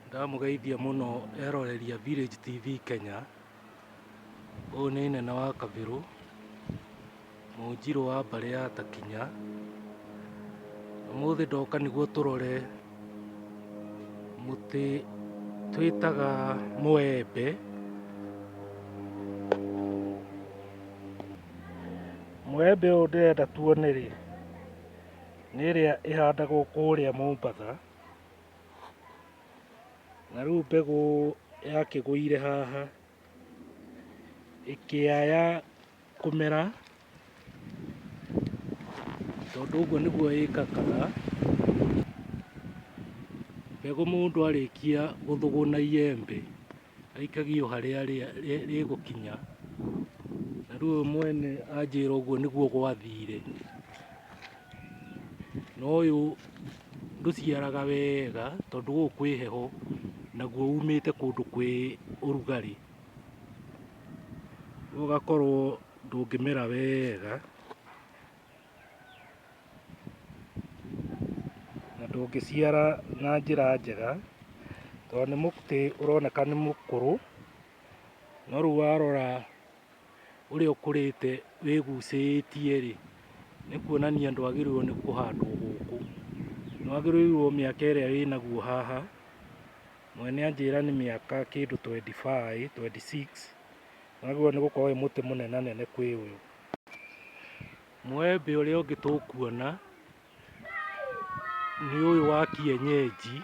Ndamũgeithia mũno eroreri a Village TV Kenya. Ũyũ nĩ nene wa Kabirũ, mũnjirũ wa mbarĩ ya Takinya. Ũmũthĩ ndoka nĩguo tũrore mũtĩ twĩtaga mũembe. Mũembe ũyũ ndĩrenda tuone rĩ, nĩ ĩrĩa ĩhandagwo kũrĩa Mombatha, Na rĩu mbegũ yakĩgũire haha ĩkĩaya kũmera, tondũ ũguo nĩguo ĩkakaga. Mbegũ mũndũ arĩkia gũthũgũna iyembe aikagio harĩa rĩgũkinya, na rĩu ũyũ mwene anjĩra ũguo nĩguo gwathire. na ũyũ ndũciaraga wega tondũ gũkũ kwĩ heho naguo umĩte kũndũ kwĩ ũrugarĩ, rĩu ũgakorwo ndũngĩmera wega na ndũngĩciara na njĩra njega tondũ nĩ mũtĩ ũroneka nĩ mũkũrũ no rĩu warora ũrĩa ũkũrĩte wĩgucĩĩtie-rĩ, nĩ kuonania ndwagĩrĩirwo nĩ kũhandwo gũkũ. Nĩwagĩrĩirwo mĩaka ĩrĩa wĩnaguo haha, mwene anjĩra nĩ mĩaka kĩndũ twenty five, twenty six, nĩwagĩrĩirwo nĩ gũkorwo wĩ mũtĩ mũnenanene kwĩ ũyũ. Mũembe ũrĩa ũngĩ tũkuona. nĩ ũyũ wa kienyenji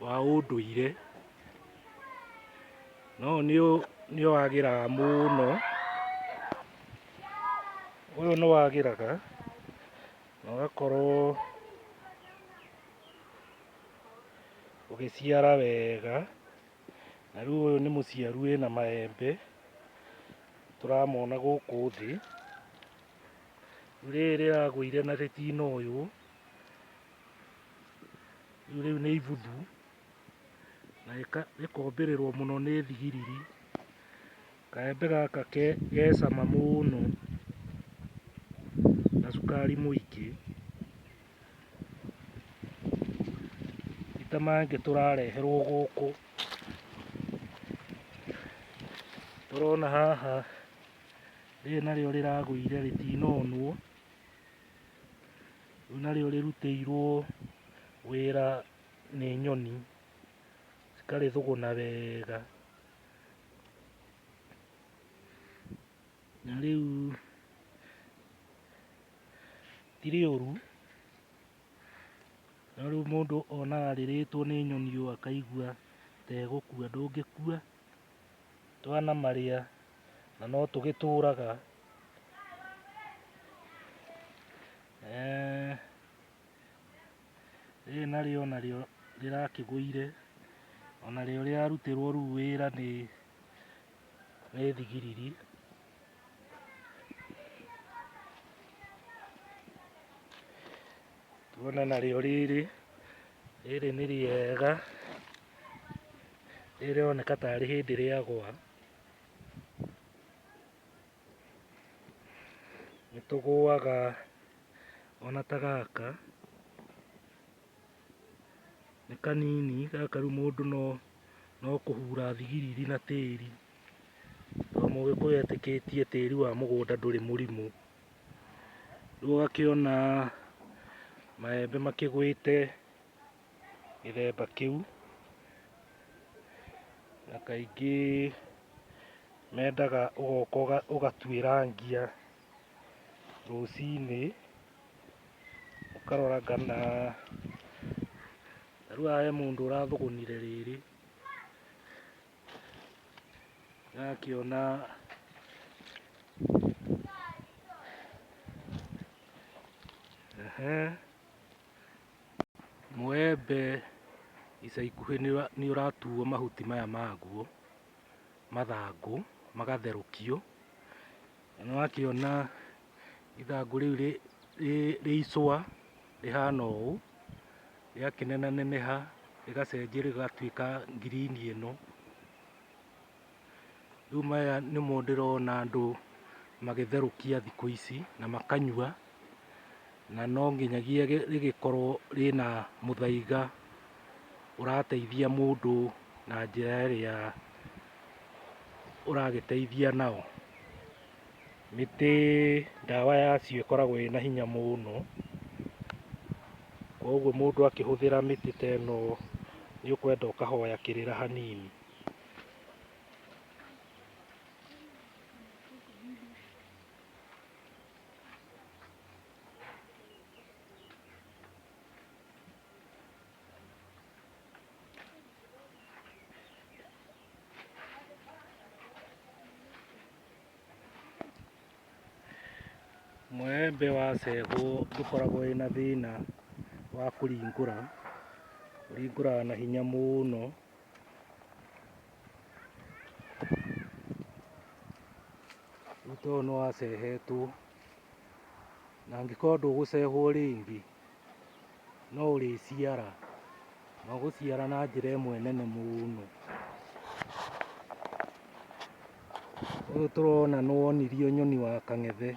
wa ũndũire no nĩ wagĩraga mũno, ũyũ nĩ wagĩraga na ũgakorwo ũgĩciara wega na rĩu ũyũ nĩ mũciaru wĩna maembe tũramona gũkũ thĩ. Rĩu rĩrĩ rĩragũire na rĩtino ũyũ, rĩu rĩu nĩ ibuthu na rĩka- rĩkombĩrĩrwo mũno nĩ thigiriri. Kaembe gaka ke ge cama mũno na cukari mũingĩ, ti ta mangĩ tũrareherwo gũkũ. Tũrona haha Rĩrĩ narĩo rĩragũire rĩtinonwo, rĩu narĩo rĩrutĩirwo wĩra nĩ nyoni, cikarĩthũgũna wega. Na rĩu ti rĩũru, no rĩu mũndũ onaga rĩrĩtwo nĩ nyoni ũũ akaigua ta egũkua, ndũngĩkua, twana marĩa. na no tũgĩtũũraga Eh, rĩrĩ narĩo narĩo rĩrakĩgũire ona rĩo rĩrarutĩrwo rĩu wĩra nĩ nĩ thigiriri tuona narĩo rĩrĩ rĩrĩ nĩ rĩega rĩroneka tarĩ hĩndĩ rĩagwa Nĩ tũgũaga ona ta gaka, nĩ kanini gaka rĩu mũndũ no no kũhura thigiriri na tĩri, tondũ mũgĩkũyũ etĩkĩtie tĩri wa mũgũnda ndũrĩ mũrimũ. Rĩu ũgakĩona maembe makĩgwĩte. gĩthemba kĩu, na kaingĩ mendaga ũgoka ũgatuĩrangia rũcinĩ, ũkarora kana, ta rĩu haha he mũndũ ũrathũgũnire rĩrĩ, ndĩrakĩona ehe. Mũembe ica ikuhĩ nĩ ũratuo mahuti maya maguo, mathangũ magatherũkio, na nĩ wakĩona ithangũ rĩu rĩ icũa rĩhana ũũ, rĩakĩnenaneneha rĩgacenjia rĩgatuĩka ngirini ĩno. Rĩu maya nĩmo ndĩrona andũ magĩtherũkia thikũ ici na makanyua, na no nginyagia rĩgĩkorwo rĩna mũthaiga ũrateithia mũndũ na njĩra ĩrĩa ũragĩteithia nao. Mĩtĩ ndawa yacio ĩkoragwo ĩna hinya mũno, koguo mũndũ akĩhũthĩra mĩtĩ ta ĩno nĩ ũkwenda ũkahoya kĩrĩra hanini. Mũembe wa cegũ ndũkoragwo wĩna thĩna wa kũringũra, ũringũraga na hinya mũno. Ruta ũyũ nĩwacehetwo na angĩkorwo ndũgũcehwo rĩngĩ no ũrĩciara na ũgũciara na njĩra ĩmwe nene mũno. Ũyũ tũrona nĩwonirio nyoni wa kang'ethe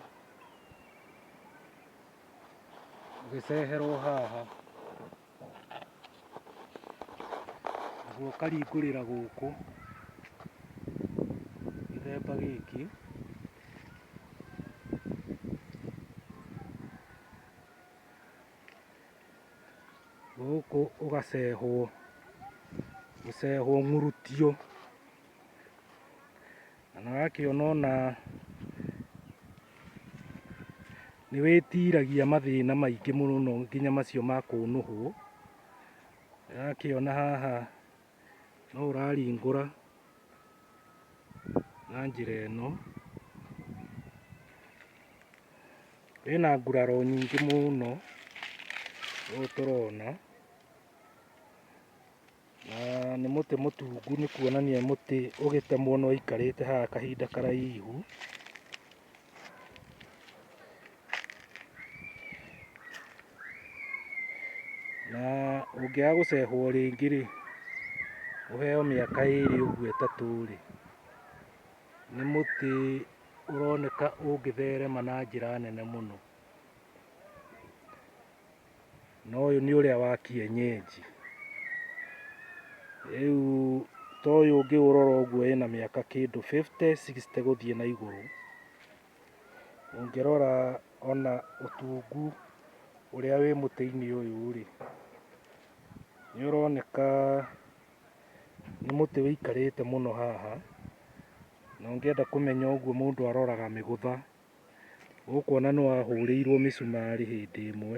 ũgĩceherwo haha. Naguo karingũrĩra gũkũ gĩthemba gĩkĩ gũkũ ũgacehwo gũcehwo ng'urutio Na nĩ ũrakĩona ona nĩ wĩtiragia mathĩna maingĩ mũno nginya macio ma kũnũhwo. Nĩ ũrakĩona haha no ũraringũra na njĩra ĩno. Wĩna nguraro nyingĩ mũno ũũ tũrona. Na nĩ mũtĩ mũtungu nĩ kuonania mũtĩ ũgĩtemwo nĩ waikarĩte haha kahinda karaihu. Na ũngĩaga gũcehwo rĩngĩ rĩ, ũheo mĩaka ĩrĩ ũguo ĩtatũ rĩ, nĩ mũtĩ ũroneka ũngĩtherema na njĩra nene mũno. na ũyũ nĩ ũrĩa wa kienyenji. Rĩu ta ũyũ ũngĩũrora ũguo ĩna mĩaka kĩndũ 50 60 gũthiĩ na igũrũ. Ũngĩrora ona ũtungu ũrĩa wĩ mũtĩ-inĩ ũyũ rĩ, nĩ ũroneka nĩ mũtĩ ũikarĩte mũno haha, na ũngĩenda kũmenya ũguo mũndũ aroraga mĩgũtha. Ũkuona nĩ wahũrĩirwo mĩcumarĩ hĩndĩ ĩmwe.